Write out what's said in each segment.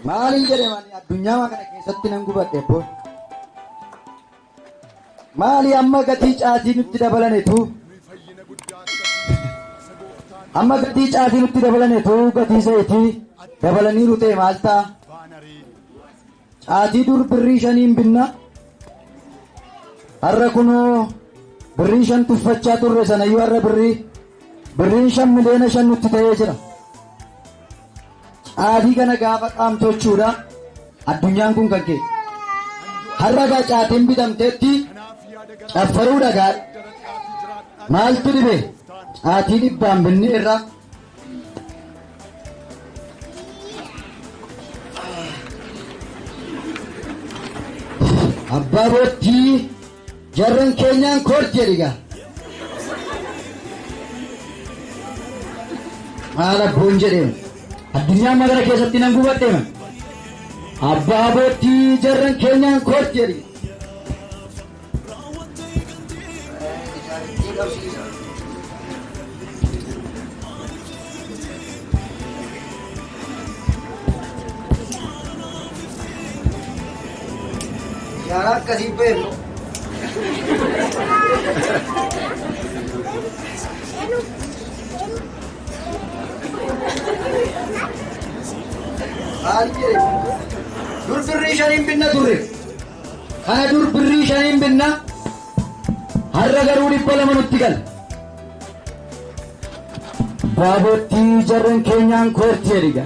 Maaliin jedhe mani addunyaa kana keessatti nan gubadhe boon. Maali amma gatii caatii nutti dabalanetu? Amma gatii caatii nutti dabalanetu gatii zayitii dabalanii rutee maal ta'a? Caatii dur birrii shaniin binna har'a kunoo birrii shan tuffachaa turre sanayyuu har'a birrii birriin shan miliyoona shan nutti ta'ee jira. Caatii kana gaafa qaamtochuudha addunyaan kun kan kee. Har'a gaa caatiin bitamteetti caffaruu dhagaa maaltu dhibe caatii dhibbaan binni irra Abbaa boottii jarran keenyaan kor jedhiga. Maal abboon jedheen addunyaa magala keessatti nan gubadheema. Abbaa boottii jarran keenyaan kor jedhiga. Yaaraa akkasii beeknu. Maal jedhe? Dur birrii shaniin binna turre. Kana dur birrii shaniin binna har'a garuu dhibba lama nutti gala. Baabottii jarreen keenyaan koorti jedhiga.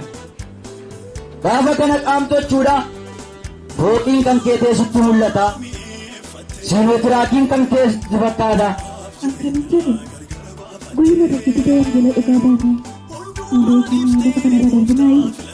Gaafa kana qaamtochuudha fooqiin kan kee teessutti mul'ata. Siinotiraakiin kan kee sitti fakkaata. Akkamitti jedhe guyyuma tokko didee wangeela dhugaa baanee hin beekne lafa kanarra darbinaayi.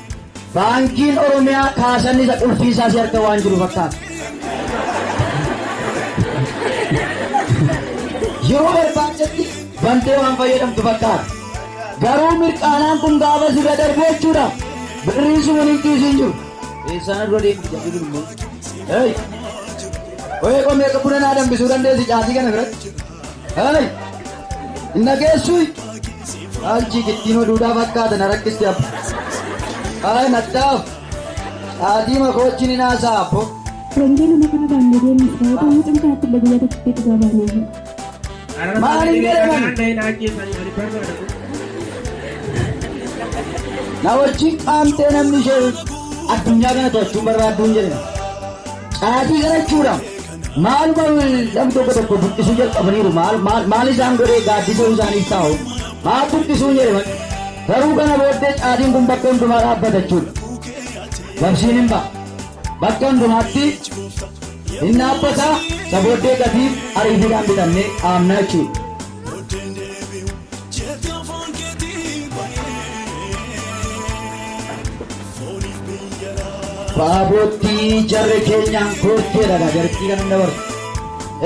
Baankiin Oromiyaa kaasanni isa qulfii isaa si harka waan jiru fakkaata. Yeroo barbaadetti bantee waan fayyadamtu fakkaata. Garuu mirqaanaan kun gaafa sirra darbu jechuudha. Birrii sun hin kiisiin jiru. Eessaan dura deemti jedhu kun immoo. Hey! Wayii qomee akka buna naa danbisuu dandeessi caatii kana biratti. Hey! Hin dhageessuu? Haalchi gittiin oduudhaa fakkaata na rakkisti abbo. Haay nattaaf. Haatiima koochi ni naasaa abbo. Wangeela maqaa baangadeen Israa'ota mucaan kanatti illee guyyaa tokkotti dhugaa baanee hin. Maal hin jedhaman? Na wajjin qaamtee namni ishee addunyaa kana to'achuun barbaadduun jedhama. Caatii garachuudhaaf. Maal maal namni tokko tokko buqqisuu jalqabaniiru maal maal maal isaan godhee gaaddisuu isaaniif taa'u haa buqqisuu jedhaman garuu kana booddee caadiin kun bakka hundumaa dhaabbata jechuudha. Labsiin hin ba'a. Bakka hundumaatti hin dhaabbata isa booddee gatiif ariifiidhaan bitamnee dhaabna jechuudha. Baaboottii jarri keenyaan koottee dhagaa jartii kan hunda bartu.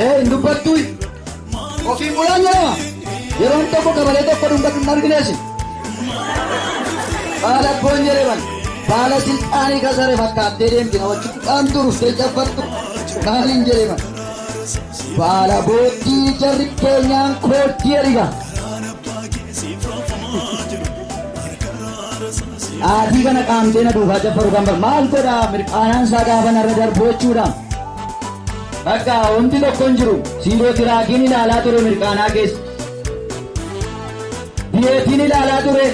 Ee hin dubbattu ofiin bulaa jedhama. Yeroon tokko gabalee tokko dhungatu hin argineesi. Baala abboon jedhaman baala silxaanii kasare fakkaattee deemti na wajjin qaamtu dhuftee cabbattu maaliin jedhaman. Baala booddii jarri keenyaan kooddii erga. Aatii kana qaamtee na duubaa jabbaru kan bar maal godha mirqaanaan isaa gaafa narra darbu jechuudha. Bakka wanti tokko hin jiru siiroo tiraakiin ilaalaa ture mirqaanaa keessa. Biyeetiin ilaalaa ture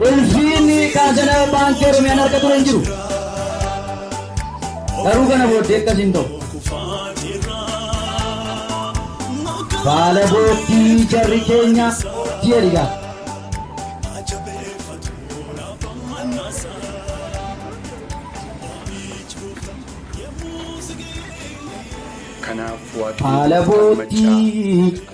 Ulfiinni qaajana baankii Oromiyaan harka ture hin jiru. Garuu kana booddee akkas hin ta'u. Baala boottii jarri keenya ji'a dhigaa. Kanaaf Waaqayyo Haala kan maccaa boottii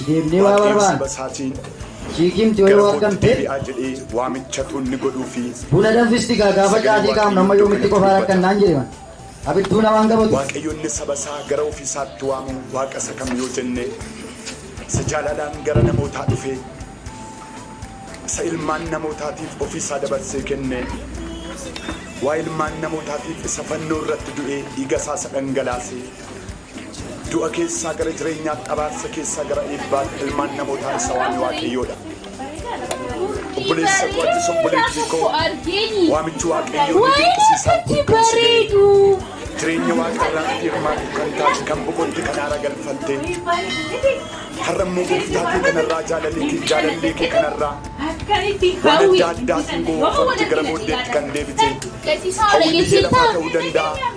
Itti deebinee waa Waaqeemsi barbaanna. basaatiin Ciikiimti yoo gara kootti waakkamte deebi'aa jedhee waamicha tuunni godhuu fi buna danfisti gaa gaafa Sagalee caatii kaafnu Waaqayyoo amma iddoo yoomitti kanatti qofaa dubbata. rakkannaan jedhe man. Abidduu namaan qabatu. Waaqayyoonni saba isaa gara ofii isaatti waamu waaqa isa kam yoo jenne isa jaalalaan gara namootaa dhufe isa ilmaan namootaatiif ofii isaa dabarsee kenne waa ilmaan namootaatiif isa fannoo irratti du'e dhiiga isaa isa dhangalaase Du'a keessaa gara jireenyaatti, abaarsa keessaa gara eebbaatti ilmaan namootaa isa waame Waaqayyoodha. Obboleessa koo atis obboleettii koo waamichi Waaqayyoo ni dinqisiisaan kun kan si ga'e. Jireenya Waaqa irraatti hirmaatu kan taate kan boqotte kan haara galfatte. Har'a immoo gooftaa kee kanarraa jaalalli kee jaalallee kee kanarraa waan adda addaatiin gowwoomfamte gara booddeetti kan deebite. Hawwiin ishee lafaa ta'uu danda'a.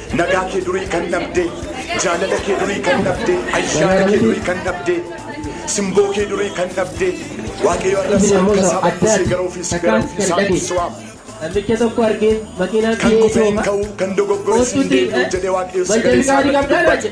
Nagaa kee durii kan dhabdee Jaalala kee durii kan dhabdee Ayyaana kee durii kan dhabdee Simboo kee durii kan dhabdee Waaqayyo arras harka isaa bal'isee gara ofii si gara ofii isaa si waama. Namicha tokko argee makiinaan Kan kufee hin ka'uu kan dogoggore si hin deebi'u jedhee Waaqayyo sagalee isaa irratti dubbate.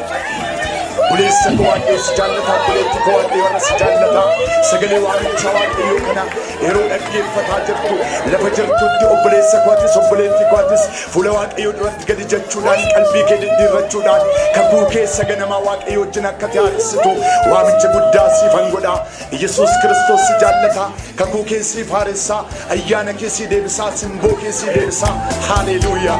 Buleessa koo waaqayyo si jaallata, buleetti koo waaqayyo irra si jaallata. Sagalee waamicha waaqayyo kana yeroo dhaggeeffataa jirtu lafa jirtutti obboleessa kootis obboleetti kootis fuula waaqayyo duratti gadi jechuudhaan qalbii kee diddiirrachuudhaan kakuu keessa ganamaa waaqayyo wajjin akka taarisitu waamicha guddaa siifan godha. Yesuus Kiristoos si jaallataa, kakuu kee siif haaressaa, ayyaana kee sii deebisaa, simboo kee sii deebisaa. Haaleeluuyaa!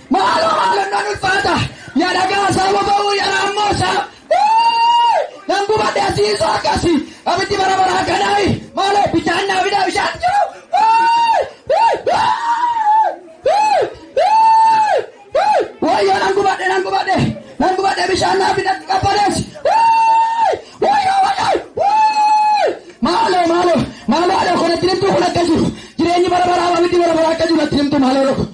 Maaloo maalannoon ulfaata ya dhagaa saa boba'uu ya raammoo saa Wuu! nan gubadhe asiisoo akkasi abiddi bara baraa kanaayi maaloo bishaan naa fidaa bishaan jiru Wuu! Wuu! Wuu! Wuu! Wuu! wayyoo nan gubadhe nan gubadhe nan gubadhe bishaan naa fidatti qabbanees Wuu! wayyoo wayyoo Wuu! maaloo maaloo maaloo adoo kanatti nimtuu kun akka jiru jireenyi bara baraa abiddi bara baraa akka jiru natti nimtuu maaloo dhoko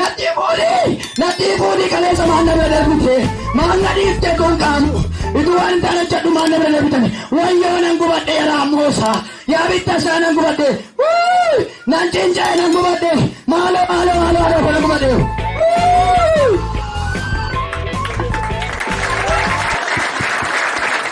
Nadhii fuudhii nadhii fuudhii kaleessa maal na bira darbite maal na dhiifte kun qaanu ituu waan hin taane hojjedhu maal na bira darbitani wayyoo nan gubadhe yaraa moosa yaa bitta isaa nan gubadhe Wuu! nan cinca'e nan gubadhe maaloo maaloo maaloo maaloo kana gubadhe Wuu!